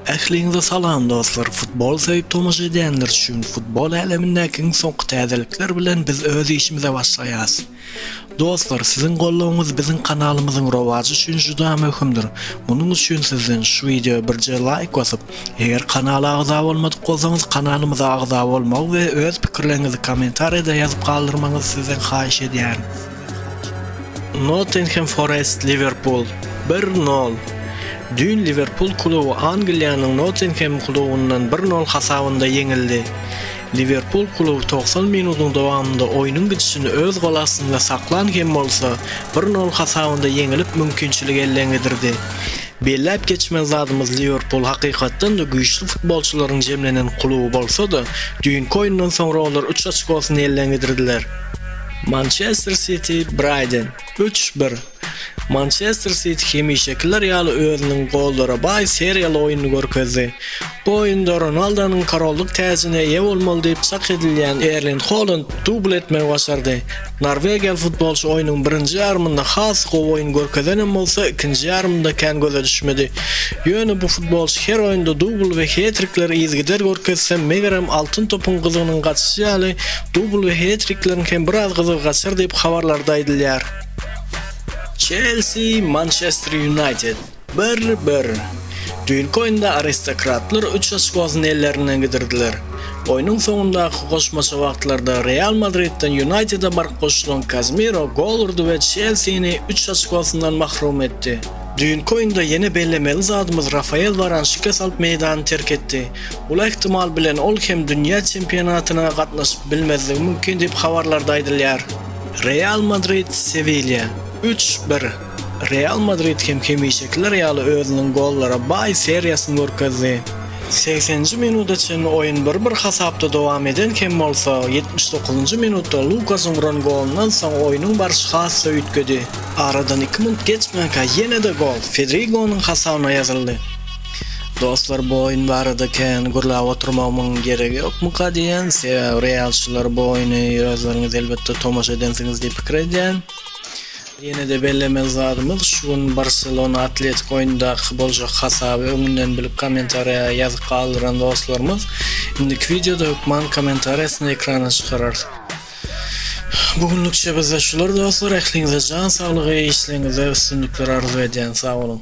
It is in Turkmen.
Ähliňize salam dostlar futbol söýüp tomaşa edýänler üçin futbol älemindäki iň soňky täzelikler bilen biz öz işimize başlaýas. Dostlar siziň goldawyňyz biziň kanalymyzyň rowajy üçin juda möhümdir munuň üçin sizden şu wideo birje laýk basyp eger kanala agza bolmadyk bolsaňyz kanalymyza agza bolmagy we öz pikirleriňizi kommentariýada ýazyp galdyrmagyňyzy sizden haýyş edýärin. Nottingham Forest Liwerpul bir nol. Düýn Liwerpul kluby Angliýanyň Nottingham klubundan bir nol hasabynda ýeňildi. Liwerpul kluby togsan minudyň dowamynda oýnuň gidişini öz gol astynda saklan hem bolsa, bir nol hasabynda ýeňilip mümkinçiligi elden gidirdi. Belläp geçmeli zadymyz Liwerpul hakykatdan-da güýçli futbolçylaryň jemlenen kluby bolsa-da, düýnki oýundan soňra olar üç oçkosyny elden gidirdiler. Mançester Siti, Braýden, üç, bir, Mançester Siti hemişekiler ýaly özüniň gollara baý seriýaly oýnuny görkezdi. Bu oýunda Ronaldonyň korollyk täjine eýe bolmaly diýip çak edilýän Erling Holand dubl etmegi başardy. Norwegiýaly futbolçy oýnuň birinji ýarymynda has gowy oýun görkezenem bolsa, ikinji ýarymynda kän göze düşmedi. Ýöne bu futbolçy her oýunda dubl we hetrikleri yzygider görkezse, megerem Altyn topyň gyzygynyň gaçyşy ýaly, Dubl we het-trikleriň hem biraz gyzygy gaçar diýip habarlarda aýdylýar. Çelsi, Mançester Ýunaýted, bir-bir. Düýnki oýunda aristokratlar üç oçkosyny ellerinden gidirdiler. Oýnuň soňundaky goşmaça wagtlarda Real Madridden Ýunaýtede baryp goşulan Kazemiro gol urdy we Çelsini üç oçkosyndan mahrum etdi. Düýnki oýunda ýene bellemeli zadymyz Rafael Waran şikes alyp meýdany terk etdi. Bul ähtimal bilen ol hem dünýä çempionatyna gatnaşyp bilmezligi mümkin diýip habarlarda aýdylýar. Real Madrid, Sewilýa, üç, bir, Real Madrid hem hemişekiler ýaly özüniň gollara baý seriýasyny görkezdi. Segsenji minuda çenli oýun bir-bir hasapda dowam eden hem bolsa, ýetmiş dokuzynjy minutda Lukasyň uran golundan soň oýnuň barşy has-da üýtgedi. Aradan iki minut geçmänkä ýene-de gol Fedrigonyň hasabyna ýazyldy. Dostlar bu oýun barada kän gürläp oturmagymyň geregi ýokmuka diýýän, sebäbi realçylar bu oýny özleriňiz elbetde tomaşa edensiňiz diýip pikir edýän. Ýene-de bellemeli zadymyz şu gün Barselona Atletik oýundaky boljak hasaby öňünden bilip kommentariýa ýazyp galdyran dostlarymyz indiki wideoda hökman kommentariýasyny ekrana çykararys. Bu günlükçe bizde şular dostlar, ähliňize jan saglygy, işleriňizde üstünlikler arzuw edýän, sag boluň!